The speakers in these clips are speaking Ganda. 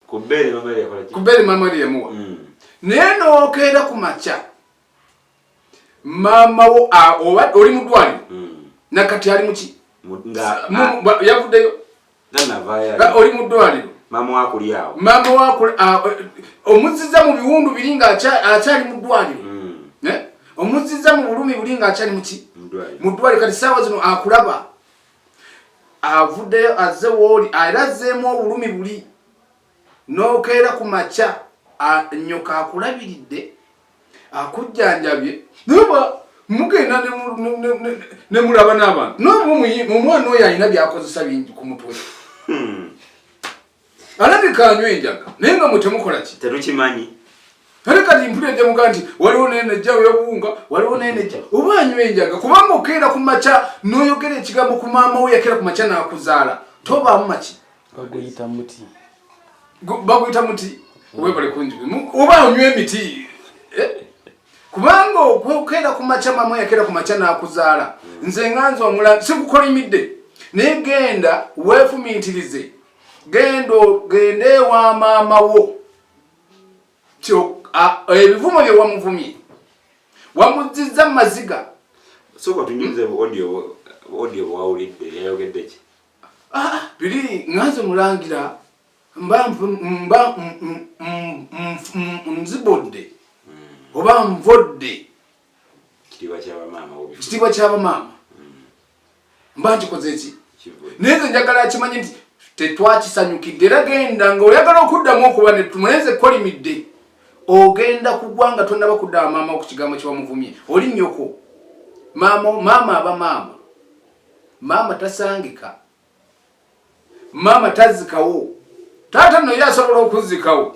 ku bbeere maama yali yakola ki ku bbeere maama yali yamuwa mm. naye n'okeera ku makya maama wo oba oli mu ddwaliro mm. nakati ali muki yavuddeyo oli mu ddwaliro maama wakuli awo maama wakuli omuziza mu biwundu biri nga akyali mu ddwaliro mm. eh? omuziza mu bulumi buli nga akyali muki mu ddwaliro kati saawa zino akulaba avuddeyo azze wooli era azzeemu obulumi buli n'okeera ku makya nyoka akulabiridde akujjanjabye naba mugenda ne mulaba n'abantu nomwana oyo alina byakozesa bingi ku mutwe hmm. alabika anywa enjaga naye nga mwetemukola ki tetukimanyi naye kati mpula ejamuga nti waliwo naye nejja webuwunga waliwo naye nejja oba anywa enjaga kubanga okeera ku makya noyogera ekigambo ku maama we yakeera ku makya nakuzaala tobaamu maki baguyita muti baguyita muti webale kungi oba anywa emiti eh? kubanga okwekeera ku makya maama we yakeera ku makya nakuzaala nze nganza omula sikukolimidde naye genda wefumintirize genda genda ewa maama wo ebivumo bye wamuvumye wamuzizza mu maziga soka tunyumize bu audio audio bwawulidde yayogedde ki ah, ah, biri nganze mulangira mba mba nzibodde hmm. oba nvodde kitiibwa kyabamaama mba nkikoze ki naye nze njagala akimanye nti tetwakisanyukidde era genda nga oyagala okuddamu okuba netumulenze kolimidde ogenda kugwa nga tonaba kuddaba maama wo ku kigambo kyewamuvumye oli nyoko maama maama aba maama maama tasangika maama tazikawo taata noyo asobola okuzikawo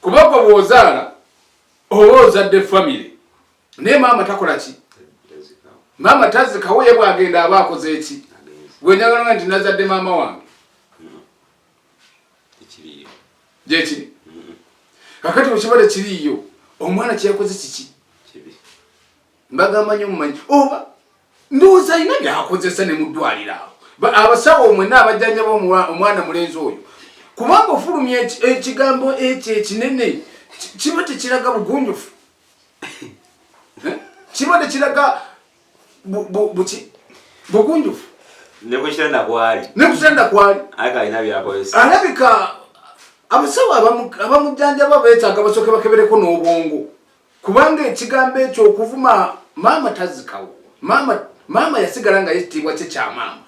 kuba gwe bwozaala oba ozadde family naye maama takola ki maama tazikawo ye bwagenda aba akoze eki gwenjagalanga nti nazadde maama wange gyekiri kakati wekibale kiriyo omwana kyeyakoze kiki mbagamba nyo mumanyi oba ndowooza alina byakozesa ne muddwaliro awo abasawo mwena abajjanjaba omwana mulenzi oyo kubanga ofulumya ekigambo ekyo ekinene kiba tekiraga bugunjufu eh? kiba tekiraga buki bugunjufu nekukitanda kwali nekukitanda kwali alina byakozesa alabika abasawo abamujjanjaba betaaga basooke bakebereko n'obwongo kubanga ekigambo ekyo okuvuma maama tazikawo maama maama yasigala nga yekitiibwa kye kya maama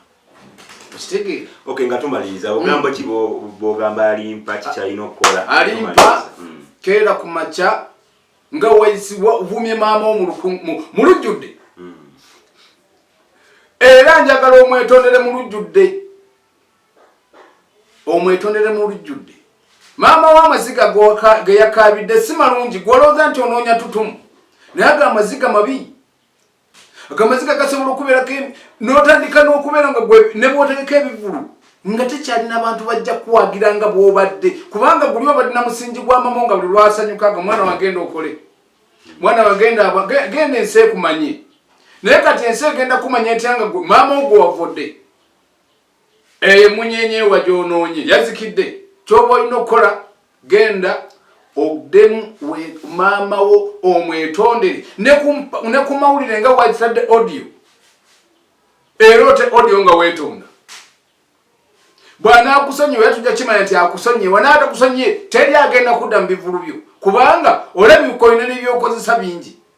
okitegeera okay nga tumaliriza ogambo ki bogamba alimpa kikyalina okukola alimpa hmm. keera ku makya nga wavumye maama mu lujjudde hmm. era njagala omwetondere mu lujjudde omwetondere mu lujjudde maama wo amaziga ge yakaabidde si malungi gwolowooza nti onoonya tutumu naye ago amaziga mabi ago amaziga gasobola okubeerako n'otandika n'okubeera nga ne bwotegeka ebivulu nga tekyalina bantu bajja kuwagira nga bwobadde kubanga guli obadde na musingi gwa mama nga buli lwasanyuka nga mwana wagenda okole mwana wagenda genda ensi ekumanye naye kati ensi egenda kumanya etya nga maama ogwo wavudde eyo emunyenye ewa gyonoonye yazikidde kyoba olina okukola genda ogdemu maama wo omwetondere ne ku mawulire nga wakitadde audio era ote audio nga wetonda bwanakusonyiwa era tujja kimanya nti akusonyiye wanaata kusonyiye teri agenda kudda mu bivulu byo kubanga olabikoyina nebyokozesa bingi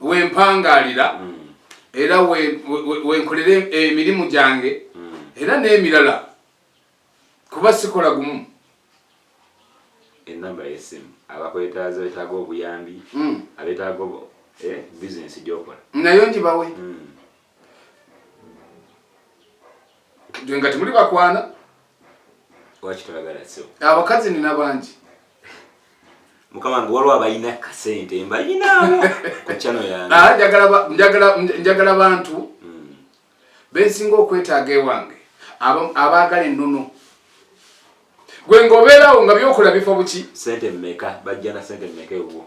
wempangaalira mm. era wenkolera emirimu gyange mm. era n'emirala kuba sikola gumu enamba yesimu abakwetaaza betaaga obuyambi mm. abetaaga eh, bizinesi gyokola nayo njibawe nga temuli bakwana lwaki tolagala sebo abakazi nina bangi mukama wange waliwo abalina kasente mbalinaabo ku chano yange ah, njagala bantu hmm. bensinga okwetaaga ewange abaagala ennono gwe ngaobeerawo nga byokola bifa buki sente mmeka bajja na sente mmeka ewuwo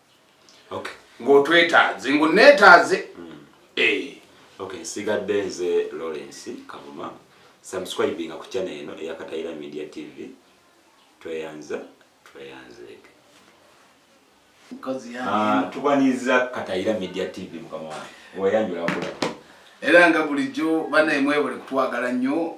ng'otwetaaze ng'oneetaaze hmm. eh. ok nsigadde nze lawrence kavuma subscribinga ku channel eno eya katayira media tv tweyanza tweyanzeeke ah, tubanyiza katayira media tv mukama wange weyanjula kula era nga bulijjo banaye mwebale kutwagala nnyo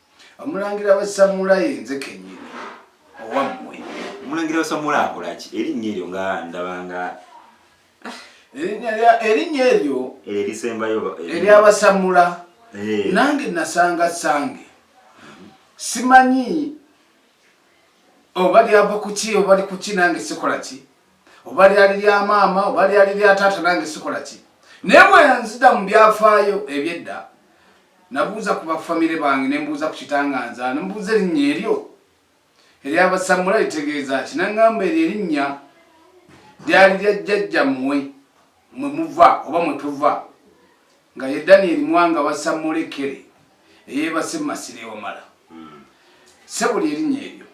omulangira wa samulayi nze kenyini owammwe omulangira wa samulayi akolaki erinnya eryo nga ndabanga ah, erinnya eryo erisembayo eh, eryabasamula eh. nange nasanga sange simanyi oba lyava kuki oba likuki nange sikolaki oba lyali lya maama oba lyali lya taata nange sikola ki naye bwenzida mu byafaayo ebyedda nabuuza ku bafamire bange nembuuza ku kitanganza nembuuza erinnya eryo eryabasamula litegeeza ki nangamba eryo erinnya lyali lya jjajja mmwe mwe muva oba mwe tuva nga ye daniel mwanga wasamulekere eyebase mu masiro ewamala hmm. sebuli erinnya eryo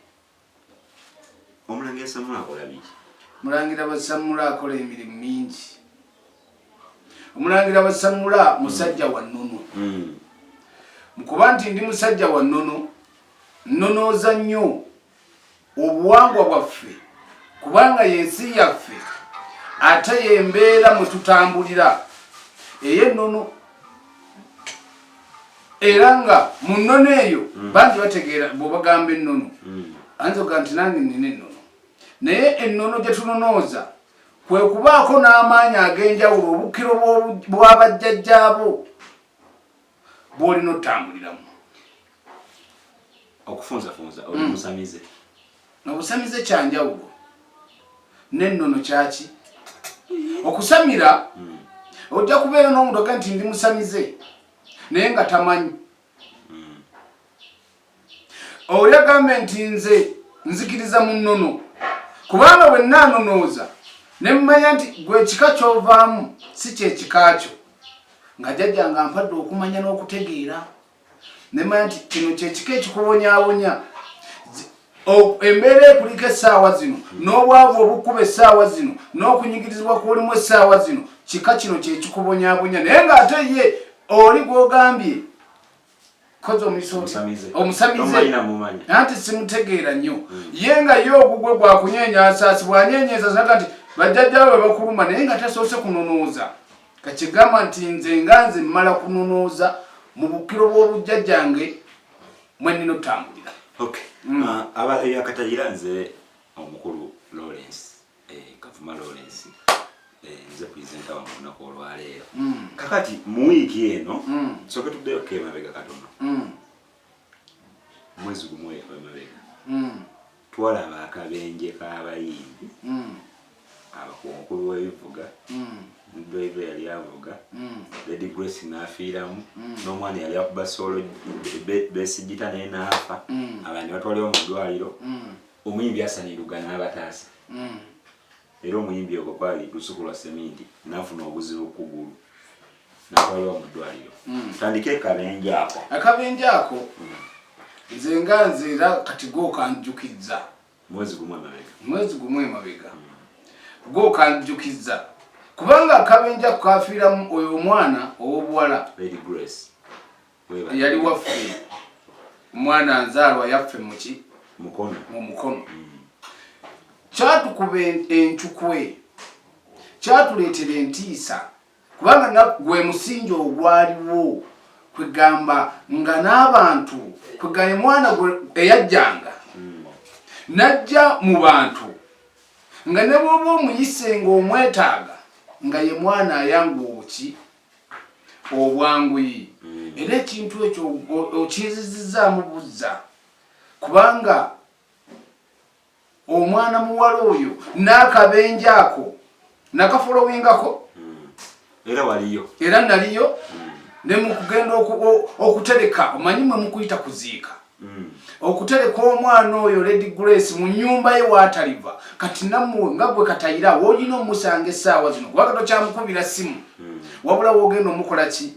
Omulangira Sammula akola biki? Mulangira Basammula akola emirimu mingi. Omulangira Basammula hmm. musajja wa nnono. Hmm. Mukuba nti ndi musajja wa nnono, nnonooza nnyo obuwangwa bwaffe kubanga y'ensi yaffe ate y'embeera mwe tutambulira ey'ennono. era nga mu nnono eyo mm. bangi bategeera bwobagamba ennono mm. anza oga nti nange nina ennono naye ennono gye tunonooza kwe kubaako n'amaanyi ag'enjawulo obukkiro bwabajjajjaabo bwolina otambuliramu okufunzafunza oli mm. musamize Nga busamize kya njawulo n'ennono kyaki? Okusamira hmm. ojja kubeera n'omuntu aga nti ndi musamize naye nga tamanyi hmm. oli agambe nti nze nzikiriza mu nnono kubanga bwe naanonooza ne mmanya nti gwe ekika ky'ovaamu si kyekika kyo nga jjajja nga mpadde okumanya n'okutegeera nemanya nti kino kyekika ekikuwonyawonya embeera ekulika essaawa zino n'obwavu obukuba essaawa zino n'okunyigirizibwa kulimu essaawa zino kika kino kyekikubonyabonya naye ng'ate ye oli gwogambye kozi omusamize anti simutegeera nnyo hmm. ye nga ye ogugwe gwakunyenyasaasi bwanyenyesasaga nti bajjajjawe bakuluma naye nga tasoose kunonooza kakigamba nti nze nga nze mmala kunonooza mu bukiro bw'obujjajjange mwe nnina otambulira mm. ah, aba eyakatayira nze omukulu lawrence eh, kavuma lawrence eh, nze purezenta wange olunaku olwaleero mm. kakati mu wiiki eno mm. soke tuddeyo kemabega katono mwezi gumwe emabega twalaba akabenje k'abayimbi mm. abakunkulu w'ebivuga mm. drive yali avuga mm. lady grace n'afiiramu n'omwana yali akuba soolo besigita naye n'afa abantu batwaliwo mu ddwaliro omuyimbi asaniruga n'abataasa Era omuyimbi ogwo kwali lusuku lwa seminti nafuna obuzibu kugulu natwalibwa mu ddwaliro. Hmm. Tandika ekabenje ako. Akabenje ako hmm. nze nga nze era kati gokanjukizza mwezi gumu emabega. Mwezi gumu emabega hmm. gokanjukizza kubanga akabenje ako kafiiramu oyo omwana ow'obuwala Lady Grace. yali waffe mwana nzaalwa yaffe muki mukono mu mukono mm. kyatukuba encukwe kyatuleetera entiisa kubanga nagwe musingi ogwaliwo kwegamba nga n'abantu kwegaye mwana gwe eyajjanga mm. najja mu bantu nga ne bwoba omuyise nga omwetaaga nga ye mwana ayangu obuki obwanguyi mm. era ekintu ekyo okyezizizaamu buzza kubanga omwana muwala oyo n'akabenja ako nakafolowingako mm. era waliyo era naliyo mm. ne mukugenda okutereka omanyi mwe mukuyita kuziika Mm. okutereka omwana oyo lady grace mu nyumba ye wataliva kati namwe nga gwe katayira wolina omusanga esaawa zino kubanga tokyamukubira simu mm. wabula wogenda omukola ki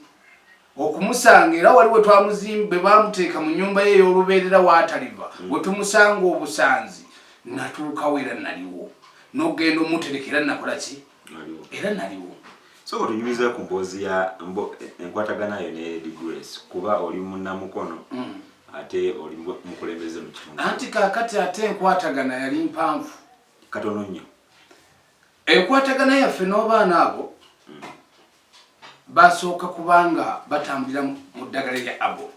okumusanga era waliwo twamuzimbe bamuteeka mu nyumba ye eyolubeerera wataliva mm. wetumusanga obusanzi natuukawo era naliwo nogenda omutereka era nakola ki era naliwo so otunyumiza ku mboozi ya enkwatagana yo ne Lady Grace kuba oli munnamukono mm. ate oli mukulembeze mu kitundu anti kakati ate enkwatagana yali mpanvu katono nnyo enkwatagana yaffe n'obaana abo mm. basooka kubanga batambulira mu ddagala lya abo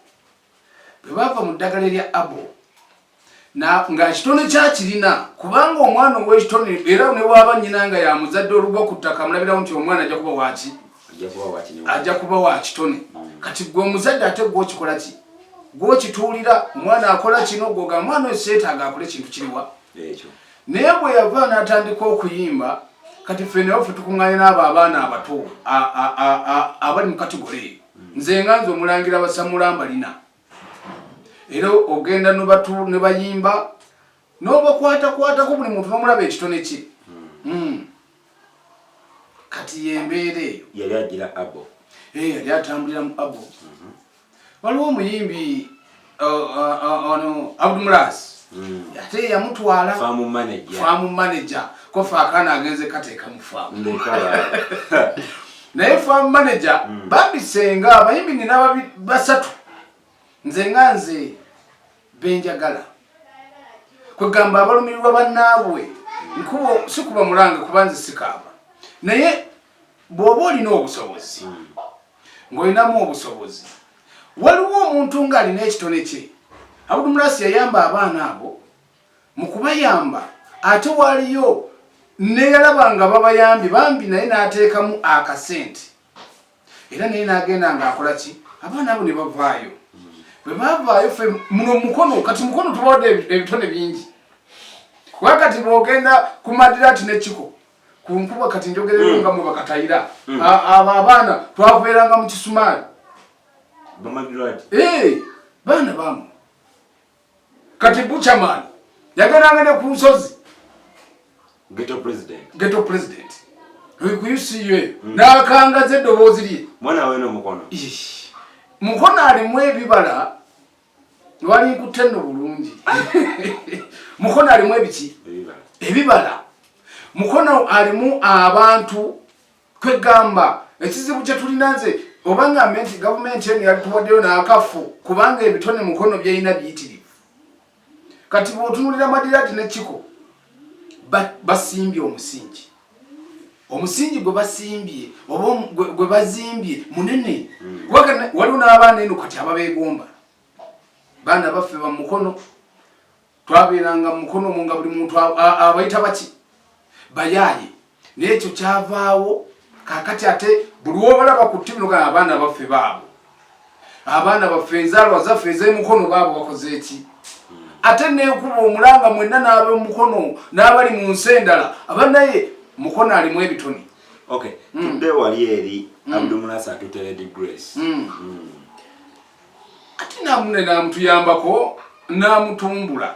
bwe baava mu ddagala erya abo nga ekitone kyakirina kubanga omwana ow'ekitone era ne waaba nnyina nga yamuzadde olugwa ku ttaka amulabirawo nti omwana ajja kuba waaki ajja kuba wa kitone mm. kati gwe omuzadde ate gwokikola ki gwokituulira omwana akola kino gwoga omwana oyo seetaaga akola ekintu kiriwa naye bwe yava n'atandika okuyimba kati ffe naye ffe tukuŋŋanye n'abo abaana abato abali mu katigole eyo nze nga nze omulangira basamula mbalina era ogenda ne bayimba n'obakwatakwatako buli muntu n'omulaba ekitone kye hmm. kati yembeera eyo yali agira abo eh, yali atambulira mu abo mhm. waliwo omuyimbi ono abdumulaasi hmm. ate yamutwala faamu manaja kofe akaana agenze kateeka mu faamu naye faamu manaja hmm. bambisenga abayimbi nina basatu nze nga nze benjagala kwegamba abalumirirwa bannaabwe nkubo sikuba mulanga kuba nze sikaaba naye bw'oba olina obusobozi hmm. ng'olinamu obusobozi waliwo omuntu ng'alina ekitone kye abudu murasi yayamba abaana abo mu kubayamba ate waliyo neyalaba nga babayambye bambi naye n'ateekamu akasente era naye n'agenda ng'akola ki abaana abo ne bavaayo bwe bavaayo fe muno mukono kati mukono tubawadde ebitone bingi wakati bw'ogenda ku madirati n'ekiko kunkuba kati njogerero mm. nga mwe bakatayira mm. abo abaana twakuberanga mu kisumaali eh, baana bamu kati buchaman yageranga ne ku nsozi geto president geto president wikuyusiye mm. nakangaza eddoboozi lye mwana wena mukono mukono alimu ebibala Wali nkutte nno bulungi. Mukono alimu ebiki? Ebibala. Mukono alimu abantu kwegamba ekizibu kye tulina nze oba ngambe nti gavumenti eno yatuwaddeyo n'akafu kubanga ebitone mukono byalina biyitirivu. Kati bw'otunulira Madirati ne Kiko basimbye omusingi. omusingi gwe basimbye oba gwe bazimbye munene hmm. waliwo n'abaana eno kati ababeegomba baana baffe bamukono twabeeranga mukono omu nga buli muntu abayita baki bayaaye naye ekyo kyavaawo kakati ate buli wobalaba ku ttivi nogaa abaana baffe baabo abaana baffe enzaalwa zaffe ez'emukono baabo bakoze eki ate nekuba omulanga mwenna n'abemukono n'abali mu nsi endala aba naye mukono alimu ebitoni hmm. tudde wali eri hmm. abdumunas atuteredi grace hmm. ati namune namutuyambako namutumbula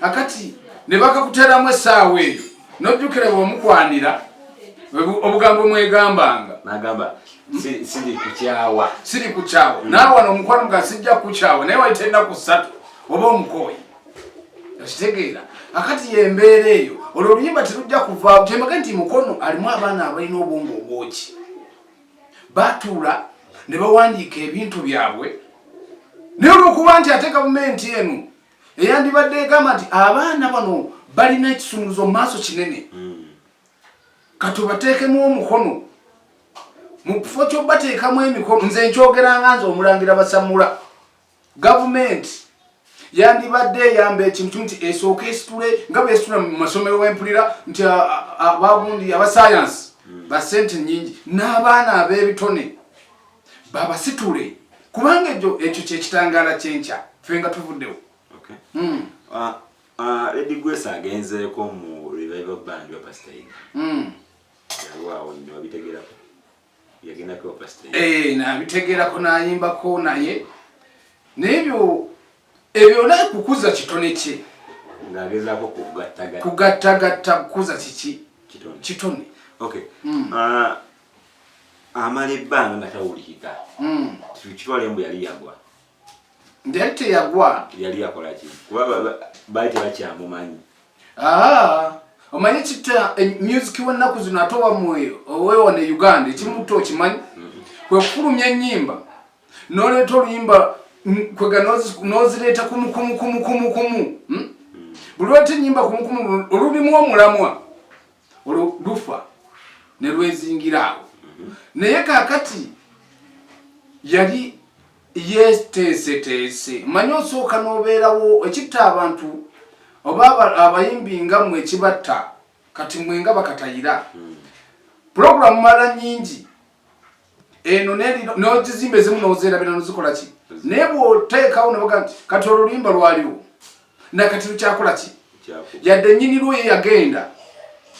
akati ne bakakuteramu essaawa eyo nojjukira bwomukwanira obugambo mwegambanga nagamba siri kukyawa siri kukyawa hmm. naawe wano omukwano nga sijja kukyawa naye wayita ennaku ssatu oba omukooyi okitegeera akati yembeera eyo olwo oluyimba terujja kuvaawo kyemage nti mukono alimu abaana abalina obwongo obwoki batuula ne bawandiika ebintu byabwe naye olwokuba nti ate gavumenti eno eyandibadde egamba nti abaana bano balina ekisumuluzo mu maaso kinene hmm. katubateekemu omukono mu kifo kyobateekamu emikono nze nkyogeranga nze omulangira basamula gavumenti yandibadde eyamba ekintu nti esooka esitule nga bwesitula mu masomero wempulira nti abagundi abasayansi hmm. basente nyingi n'abaana ab'ebitone babasitule kubanga ekyo ekyo kyekitangaala kyenkya fe nga tuvuddewo hmm. ah, ah, edi gwesa agenzeeko mu revival band wa pasita yiga hmm. yaliwawo nyo abitegerako yagendako wa pasita yiga eh, nabitegerako nayimbako naye nebyo ebyo naye kukuza kitone kye ngagezako kugattagatta kukuza kiki kitone kitone okay hmm. ah, amala ebbanga nga tawulikika hmm. kitwale mbu yali yagwa nti yali teyagwa yali yakolaki kuba baali tebakyamumanyi ah, omanyi kita eh, music wennaku zino ate owa mwoyo owewa ne uganda ekimuta okimanyi hmm. kwekufulumya enyimba noleeta oluyimba kwega nozireeta kumukumukumukumu hmm? buli wata enyimba kumukumu olulimu omulamwa olwo lufa ne lwezingira awo naye kakati yali yeteeseteese manya osooka n'obeerawo ekitta abantu oba abayimbi nga mwe ekibatta kati mwe nga bakatayira pulogulaamu mala nyingi eno nogizimba ezimu nozerabira nozikola ki naye bwoteekawo noga nti kati olulimba lwaliwo nakati lukyakola ki yadde nyini lwo ye yagenda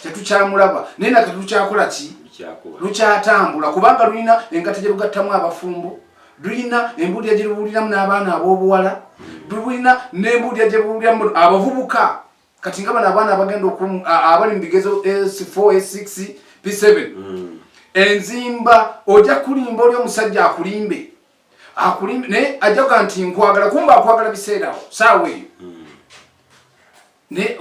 tetukyamulaba naye nakati lukyakola ki lukyatambula kubanga lulina engata gye lugattamu abafumbo lulina embuulira gye lubuuliramu n'abaana ab'obuwala lulina n'embuulira gye buuliramu abavubuka kati nga bano abaana abagenda abali mu bigezo s4 s6 p7 mm. enzimba ojja kulimba oli omusajja akulimbe akulimbe naye ajja kuga nti nkwagala kumba akwagala biseerawo saawa eyo mm. naye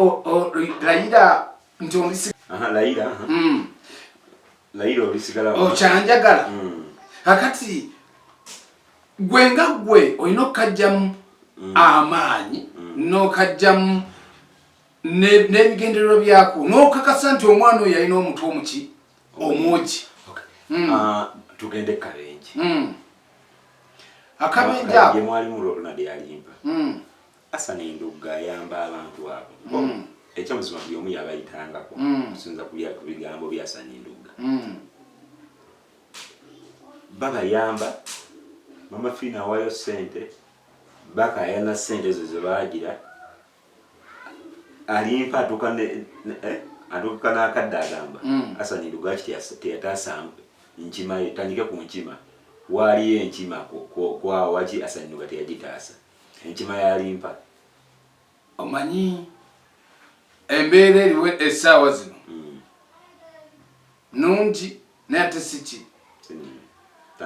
layira nti ondisi layira mm. layira olisigala okyanjagala oh, mm. akati gwe nga gwe olina okukajjamu mm. amaanyi mm. n'okajjamu n'ebigendererwa byako n'okakasa nti omwana oyo yalina omutu omuki omwogi mm. ah, tugende kabenje akabenje ako Asana endugga ayamba abantu abo mm. ekyamazima buli omu yabayitangako mm. okusinza ku bigambo bya Asana endugga mm. babayamba mama fiina awayo sente bakayana sente ezo zebagira alimpa atuka eh, atuka nakadde agamba mm. Asana endugga ki teyataasa nkima etandike ku nkima waaliyo enkima kwawaki Asana endugga teyagitaasa enkima ya limpa omanyi embeera eriwo essaawa zino hmm. nungi naye ate siki hmm.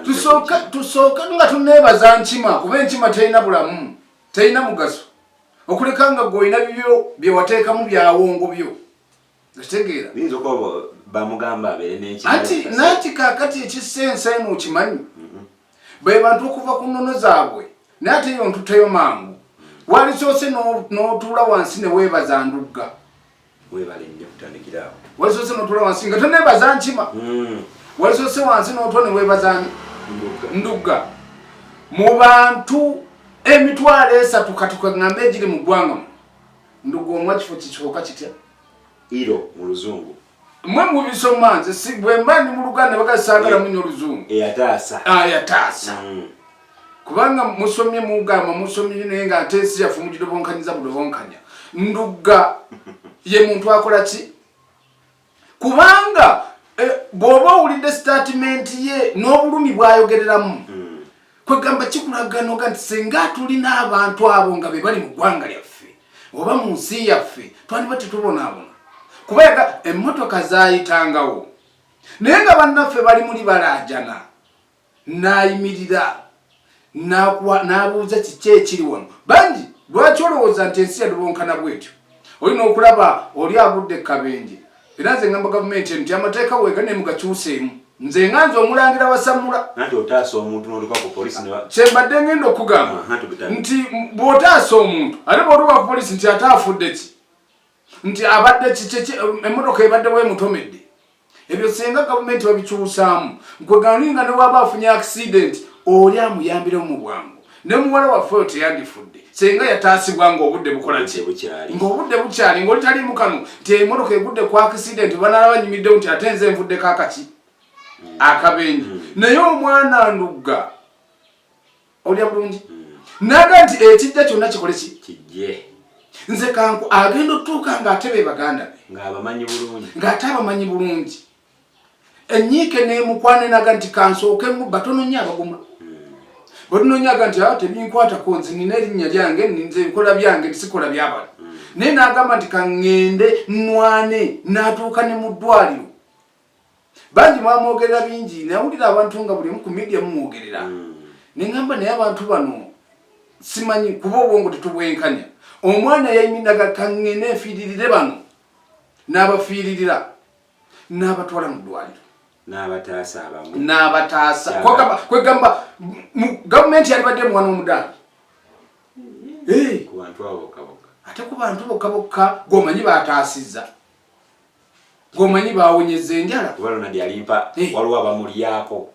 tusooka tusooka nga tuneebaza nkima kuba enkima terina bulamu terina mugaso okuleka nga gweolina bibyo byewateekamu byawongo byo okitegeera biyinza okuba bamugamba abeere n'eki anti naki kakati ekissa ensaimu okimanyi mm-hmm. be bantu okuva ku nnono zaabwe naye ate yo ntuteyo mangu walisoose n'otuula wansi ne weebaza ndugga webale nnyo kutandikira awo walisoose n'otuula wansi nga toneebaza nkima mm. walisoose wansi n'otwa ne weebaza ndugga mu bantu emitwalo esatu kati kwe ŋŋamba egiri mu ggwanga mu ndugu omwa kifo kikihoka kitya iro mu luzungu mwe mubisoma nze si bwemba ndi mu luganda bagasagala munyo oluzungu eyataasa eh, ayataasa ah, mm. kubanga musomye mugamba musomye naye nga ate ensi yaffe mugidobonkanyiza budobonkanya ndugga ye muntu akola ki kubanga eh, bw'oba owulidde sitaatimenti ye n'obulumi bw'ayogereramu hmm. kwegamba kikulaganoga nti singa tulina abantu abo nga be bali mu ggwanga lyaffe oba mu nsi yaffe twandiba tetubonaabona kubaga emmotoka zaayitangawo naye nga bannaffe bali muli balaajana n'ayimirira n'abuuza kiki ekiri wano bangi lwaki olowooza nti ensi yadubonkana bwetyo olina okulaba oli agudde kabenje era nze ngamba gavumenti eno nti amateeka weega ne mugakyuseemu nze nga nze omulangira wasamula kyembadde ngenda okugamba nti bw'otaasa omuntu ate bw'otuwa ku polisi nti ate afudde ki nti abadde kikiki emmotoka ebadde wemutomedde ebyo senga gavumenti babikyusaamu nkweganuyi nga newaba afunye accident oli amuyambiremu mu bwangu ne muwala waffe oyo teyandifudde senga yataasibwa ngaobudde bukola ki ngaobudde bukyali ngaoli taliimu kano nti emmotoka egudde ku accident banalaba nyumiddewo nti ate nze envuddeko akaki akabenje naye omwana ndugga olya bulungi hmm. naga nti ekijja kyonna kikole ki kijje nze kanku agenda otuuka ng'ate be baganda be ng'abamanyi bulungi ng'ate abamanyi bulungi enyiike nemukwanenaga nti kansooke mu batono nnyo abaguma batunonyaga nti awo ah, tebinkwatako nze nina erinnya lyange nze nkola byange tisikola byabala hmm. naye nagamba nti kaŋŋende nwane natuuka ne mu ddwaliro bangi mwamwogerera bingi nawulira abantu nga bulimu ku media mumwogerera mm. nengamba naye abantu bano simanyi kuba obwongo tetubwenkanya omwana yayiminaga kangene efiiririre bano n'abafiiririra n'abatwala mu ddwaliro n'abataasa abamu n'abataasa kwegamba gavumenti yalibadde mwana omudaali ate ku bantu bokka bokka gwomanyi bataasizza gomanyi bawonyeza enjala obalonadi alimpa hey. Eh. waliwo abamulyako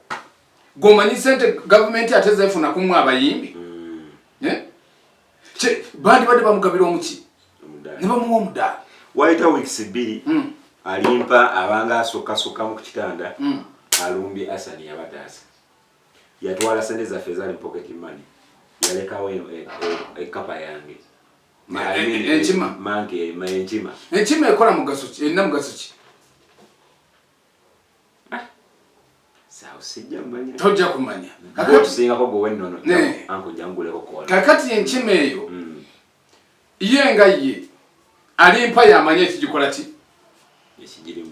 gomanyi sente gavumenti ate zefuna kumu abayimbi mm. eh? bandi badde bamugabira omuki nebamuwa omudaala wayita weeks bbiri mm. alimpa abanga asukasuka mu kukitanda mm. alumbye asani yabataasa yatwala sente zaffe ezali mu pocket money yalekawo ekapa e, e, e yange enkima enkima ekola mugaso ki erina mugaso ki ah. tojja kumanya kakati enkima eyo mm. ye nga ye alimpa yamanya ekigikola ki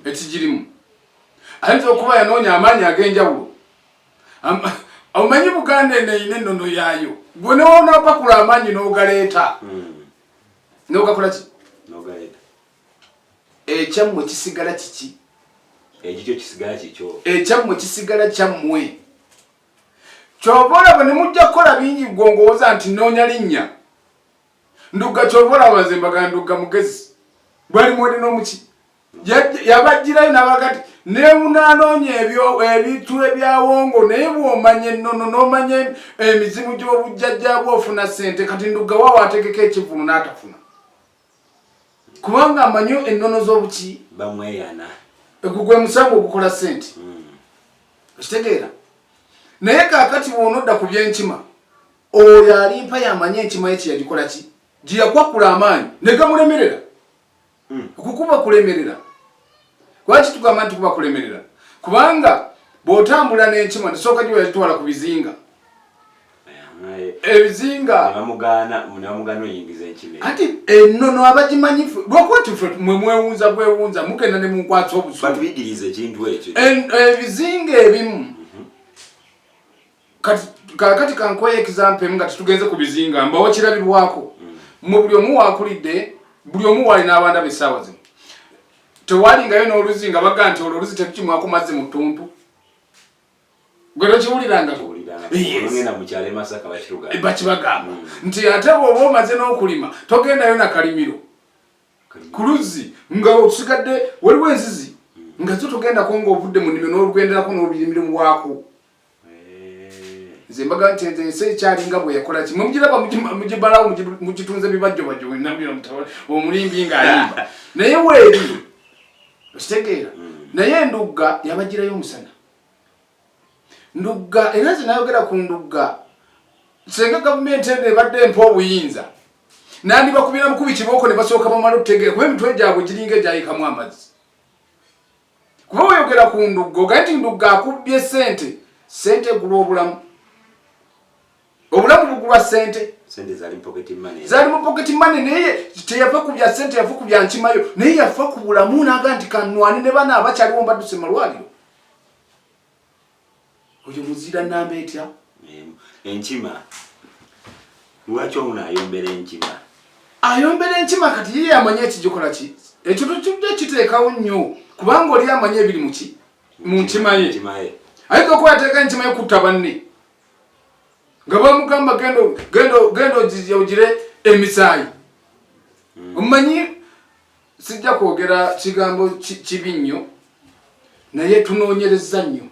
ekigirimu ayinza okuba yanoonya amaanyi ag'enjawulo omanyi buganda eno erina ennono yaayo gwe newonapakula amaanyi n'ogaleeta hmm. n'ogakola ki ekyammwe kisigala kiki ekikyo kisigala kikyo ekyammwe kisigala kyammwe kyova olaba ne mujja kukola bingi gwongowooza nti noonya linnya ndugga kyova olaba nze mbaga ndugga mugezi bwali mwede n'omuki yabajjirayo nabagati nemunanoonya ebintu ebyawongo naye bwomanya ennono nomanya emizimu gyobujjajjabwe ofuna sente kati ndugawa wategeka ekivulu natafuna kubanga amanyi ennono zobuki bamweyana egugwe musango ogukola sente hmm. okitegeera naye kakati bwonodda ku byenkima oyo alimpa yamanya enkima ye kyeyagikola ki gyeyakwakula amaanyi negamulemerera hmm. kukuba kulemerera lwaki tugamba nti kuba kulemerera kubanga bw'otambula n'enkima ndisooka gye weyakitwala ku bizinga ebizinga kati enono abagimanyi lwakuba tife mwe mwewunza bwewunza mugenda ne munkwasa obusubiebizinga ebimu kati kakati kankoye example nga tugenze ku bizinga mbawo kirabibwako mm. mu buli omu wakulidde buli omu wali n'abaana besaawa zino tewalingayo n'oluzi nga baga nti olwo oluzi tekukimwako mazzi mu ttuntu gwe tokiwulirangako bakibagamba mm. nti ate bwoba omaze n'okulima togendayo nakalimiro ku luzzi nga otusigadde waliwo enzizi mm. nga zo togendako ngaovudde mu nnimiro n'olugenderako n'olubirimiro mu waako nze mbaga nti nze ensi ekyalinga bwe yakola ki mumugiraba mugibalawo mugitunze bibajjo bajjo wenamira mutawa omulimbi ng'ayimba naye weeri okitegeera hmm. naye endugga yabagirayo omusana ndugga era nze nayogera ku ndugga senga gavumenti eno ebadde empa obuyinza nandibakubira mukubi kibooko ne basooka bamala okutegeera kuba emitwe gyabwe giringa egyayikamu amazzi kuba oyogera ku ndugga ogaye nti ndugga akubbye sente sente egulwa obulamu obulamu bugulwa sente zali mu pocket money naye teyafa ku bya sente yafa ku bya nkimayo naye yafa ku bulamu naga nti kanwani ne bana abakyaliwo mbaduse malwaliro oyo muzira namba etya enkima lwaki ono ayombera enkima ayombera enkima kati ye yamanya ekigikola ki ekyo tukidde kiteekawo nnyo kubanga oli amanya ebiri muki mu nkima ye ayinza okuba yateeka enkima ye kutta banne nga bamugamba genda ogire emisaayi hmm. omanyi sijja kwogera kigambo kibi nnyo naye tunoonyereza nnyo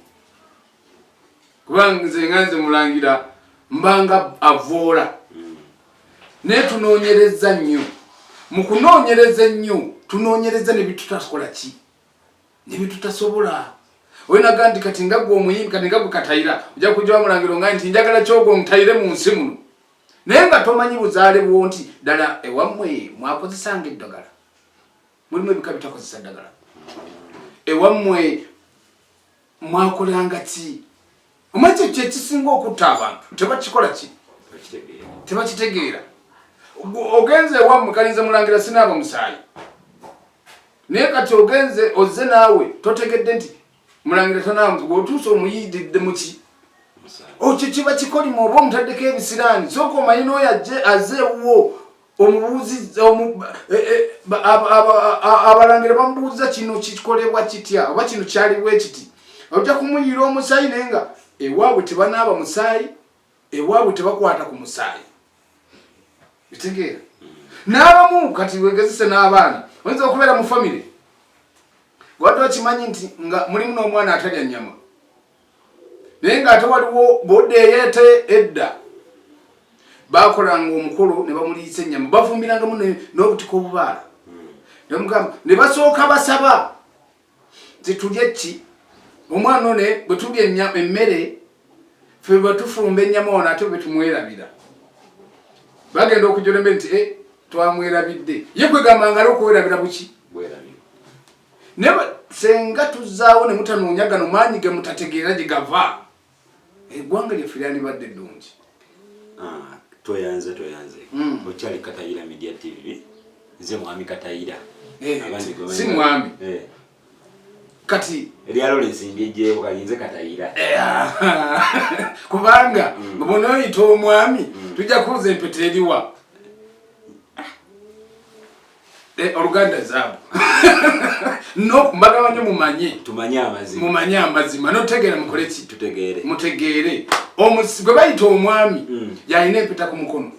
kubanga nze nga nze mulangira mbanga avoola naye tunoonyereza nnyo mu kunoonyereza ennyo tunoonyereza ne bitutakola ki ne bitutasobola oyenaga nti kati nga gwe omuyimbi kati nga gwe katayira ojja kujja wamulangiro nga nti njagala kyogwo ntayire mu nsi muno naye nga tomanyi buzaale bwo nti ddala ewammwe mwakozesanga eddagala mulimu ebika bitakozesa ddagala ewammwe mwakolanga ki omanyi kye kyekisinga okutta abantu tebakikola ki tebakitegeera ogenze ewammwe kalinze mulangira sinaaba musaayi naye kati ogenze ozze naawe totegedde nti mulangira tonange wotuusa omuyididde muki okyo oh, kiba kikolimo oba omutaddeko ebisiraani soka omanyi nooyo ajje aze ewuwo omubuuzi eh, eh, abalangira bamubuuza kino kikolebwa kitya oba kino kyaliwo ekiti ojja kumuyiira omusaayi naye nga ewaabwe tebanaaba musaayi ewabwe tebakwata ku musaayi bitegeera n'abamu kati wegezese n'abaana oyinza okubeera mu famire wadde okimanyi nti nga mulimu n'omwana atalya nnyama naye ng'ate waliwo bodde eyeete edda bakolanga omukolo ne bamuliisa ennyama bavumbirangamu n'obutika obubaala hmm. nemugamba ne basooka basaba titulye ki omwana one bwe tulya ennyama emmere ffe bwe tufumba ennyama ono ate bwe tumwerabira bagenda okujolembe nti e twamwerabidde ye kwegamba ngalo okuwerabira buki naye senga tuzaawo ne mutanoonya gano maanyi ge mutategeera gye gava eggwanga lyaffe lyandibadde ddungi ah, toyanze toyanze hmm. okyali katayira media tv nze mwami katayira eh, si mwami eh. kati ebyalo lezimbyejewo kalinze katayira eh, ah. kubanga hmm. bona oyita omwami hmm. tujja kuuza empeta eriwa Eh, oluganda zaabu nokumagabanye mumanye tumanye amazima mumanye amazima notegeera mukole ki tutegeere mutegeere omusi gwe bayita omwami mm. yalina empeta ku mukono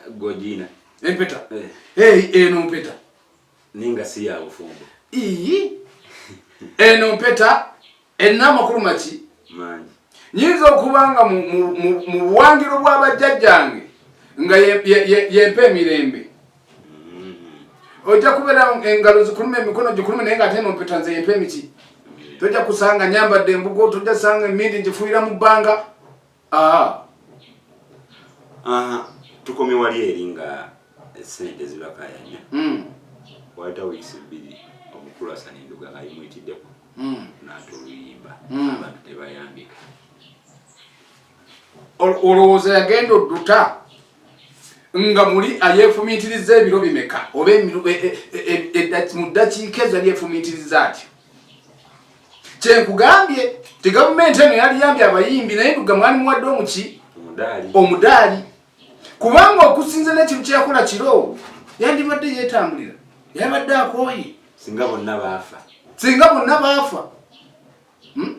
gojina empeta eh. hey, eno mpeta ninga si ya bufumbo ii eno mpeta Enna amakulu maki? Mangi. Nyinza okuba nga mu buwangiro bwa bajjajjange nga yempa emirembe. Mm-hmm. Ojja kubeera engalo zikuluma emikono gikuluma naye nga ate eno mpeta nze yempa emiti. Tojja kusanga nyambadde embugo, tojja sanga emindi ngifuuyira mu bbanga. Aha. Aha. Tukomye wali eri nga sente zibakayanya. Mm. Waita weeks bbiri omukulu asana enduga nga yimuyitiddeko. Mm. N'ate oluyimba. Mm. Abantu tebayambika. Olowooza yagenda odduta nga muli ayefumiitiriza ebiro bimeka oba e, e, e, mu ddakiika ezo yefumiitiriza atyo kyenkugambye ti gavumenti eno yaliyambye abayimbi naye nduga mwali muwadde omuki omudaali kubanga okusinza nekintu kyeyakola kiro yandibadde yetambulira yabadde akooye singa bonna baafa singa bonna baafa hmm?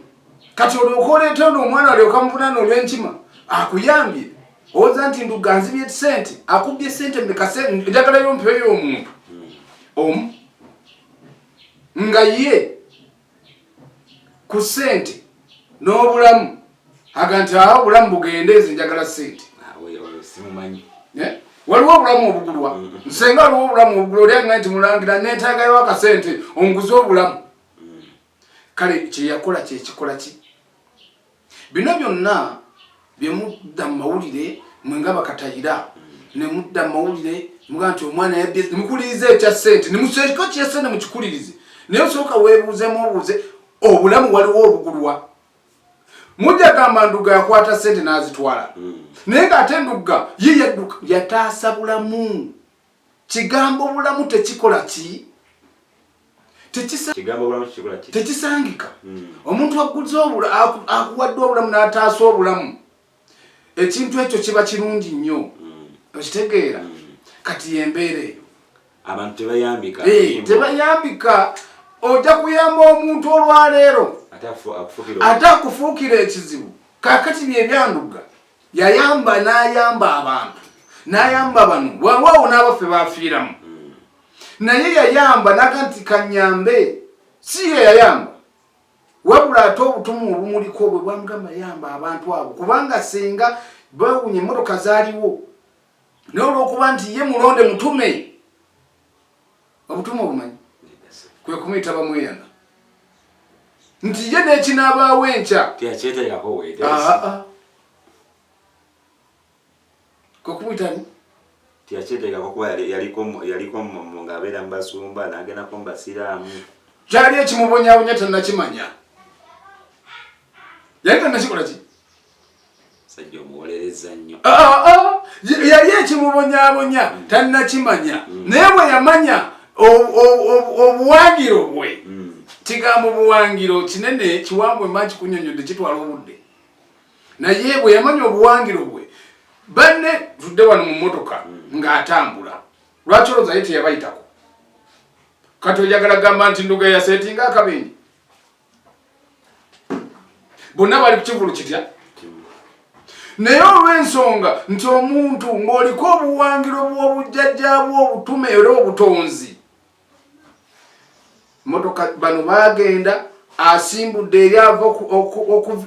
kati olyoka oleeta ono omwana alyoka muvunana olwenkima akuyambye owoza nti nduga nzibye sente akubbye sente mekase njagalayo mpeyo omuntu hmm. omu nga ye ku sente n'obulamu aga nti awo obulamu bugende nze njagala sente eh? waliwo obulamu obugulwa mm-hmm. nsenga waliwo obulamu obugulwa oli agna nti mulangira netaagayo akasente onguze obulamu mm. kale kyeyakola kyekikola ki bino byonna bye mudda mu mawulire mwe nga bakatayira ne mudda mu mawulire muga nti omwana yabbye mukulirize ekya ssente ne museeko kya ssente mukikulirize naye osooka weebuuzemu obuuze obulamu waliwo obugulwa mujja gamba ndugga yakwata ssente n'azitwala hmm. naye ng'ate ndugga ye yadduka yataasa bulamu kigambo bulamu tekikola ki tekisangika hmm. omuntu aguze akuwadde obulamu n'ataasa obulamu ekintu ekyo kiba kirungi nnyo hmm. okitegeera hmm. kati yembeera eyo abantu tebayambika eh, tebayambika ojja kuyamba omuntu olwaleero ate akufuukira ekizibu kakati byebyanduga yayamba n'ayamba abantu n'ayamba bano wewaawo n'abaffe bafiiramu hmm. naye yayamba naga nti kanyambe si ye yayamba wabula ate obutumu obumuliko bwe bwamugamba yayamba abantu abo kubanga singa bawunya emmotoka zaaliwo naye olwokuba nti ye mulonde mutume obutume obumanyi kwe kumuyita bamweyana nti ye n'ekinaabaawo enkya kwe kumuyita ni tiyakyeteekako kuba yaliko ng'abeera mu basumba n'agendako mu basiraamu kyali ekimubonyabonya tannakimanya yali tannakikola ki sajja omuwolereza nnyo ah, ah, ah. yali ekimubonyabonya mm. tannakimanya mm. naye bwe yamanya obuwangiro bwe mm. kigambo buwangiro kinene kiwangwe maki kunyonyodde kitwala obudde naye bwe yamanya obuwangiro bwe banne tudde wano mu motoka ng'atambula lwaki olowooza ye teyabayitako kati oyagala gamba nti nduga yasetinga akabenje bonna bali kukivulu kitya naye olw'ensonga nti omuntu ng'oliko obuwangiro bw'obujjajja bw'obutume era obutonzi motoka bano baagenda asimbudde eri ava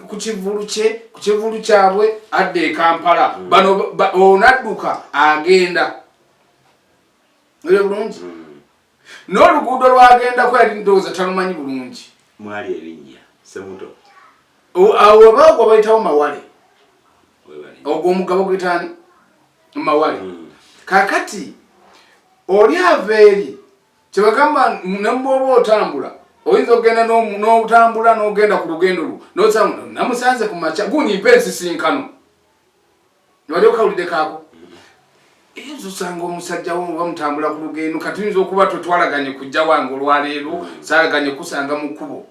ku kivulu kye ku kivulu kyabwe adda e kampala hmm. bano onadduka agenda ere bulungi hmm. n'oluguudo lwagendako yali ndowooza talumanyi bulungi mwali ebinnya semuto awo obaogwo bayitawo mawale ogwo omugabo gwetaani mawale hmm. kakati oli ava eri kyebagamba nemubwoba otambula oyinza okugenda n'otambula n'ogenda ku lugendo lwo nosamunamusanze ku makya gunyimpa ensisinkano newali okawulidde kaako eyinza osanga omusajja wo oba mutambula ku lugendo kati oyinza okuba totwalaganye kujja wange olwaleero salaganye kusanga mu kkubo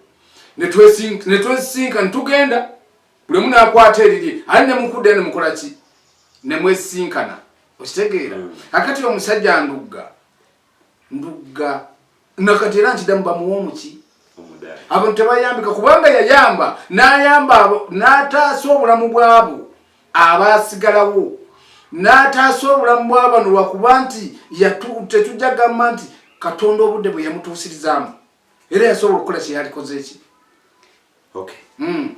netwesisinka netugenda buli omu nakwata eriri ali nemukudde nemukola ki nemwesinkana okitegeera mm. akati omusajja ndugga ndugga nakati era nkidamu bamuwa omuki abantu tebayambika kubanga yayamba nayamba nataasa obulamu bwabo abasigalawo nataasa obulamu bwabano lwakuba nti tetujja gamba nti katonda obudde bwe yamutuusirizaamu era yasobola okukola kyeyalikoze eki hmm.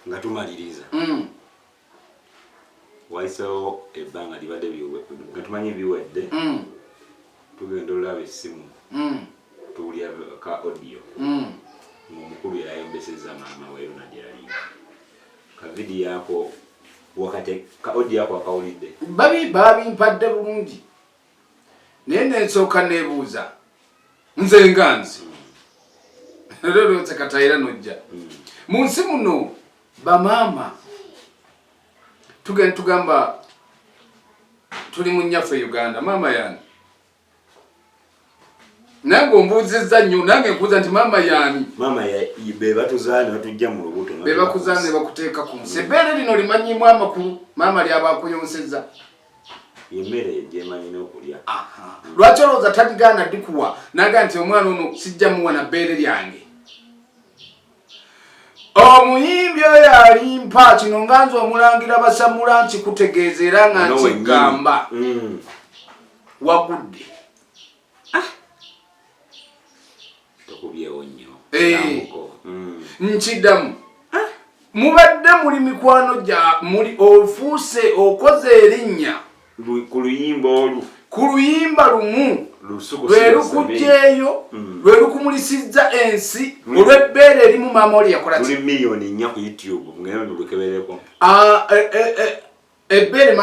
nga tumaliriza hmm. wayiseewo ebbanga libadde nga tumanyi biwedde mm. tugenda olaba essimu mm. tuwulira ka audio mm. ngaomukulu yayombeseza maama weruna gyeyali kavidi yako wakati ka audio yako akawulidde babi babimpadde bulungi naye nensooka nebuuza nze nga nzi mm. lero nsekatayira nojja mm. mu nsi muno bamaama tugenda tugamba tuli mu nnyaffe uganda maama yani nange ombuuzizza nnyo nange nkuuza nti maama yani maama bebatuzaa nebatujja mu lubuto bebakuzaa nebakuteeka ku nsi ebbeere lino limanyimu amakulu maama lyaba akuyonseza emmere gyemanyi n'okulya lwaki olowooza taligaana dikuwa naga nti omwana ono sijja muwa na bbeere lyange omuyimbi oyo alimpa kino nga nze omulangira basamula nti kutegeeza era nga nkigamba mm. wagudde ah. eh. mm. nkidamu ah. mubadde muli mikwano gya muli ofuuse okoze erinnya ku luyimba olwo ku luyimba lumu lwe lukugyeyo mm. lwe lukumulisizza ensi mm. olw'ebbeere erimu maama oli yakolaki miliyoni nnya ku youtube ngeno nolukebereko ah, eh, eh, eh, ebbeere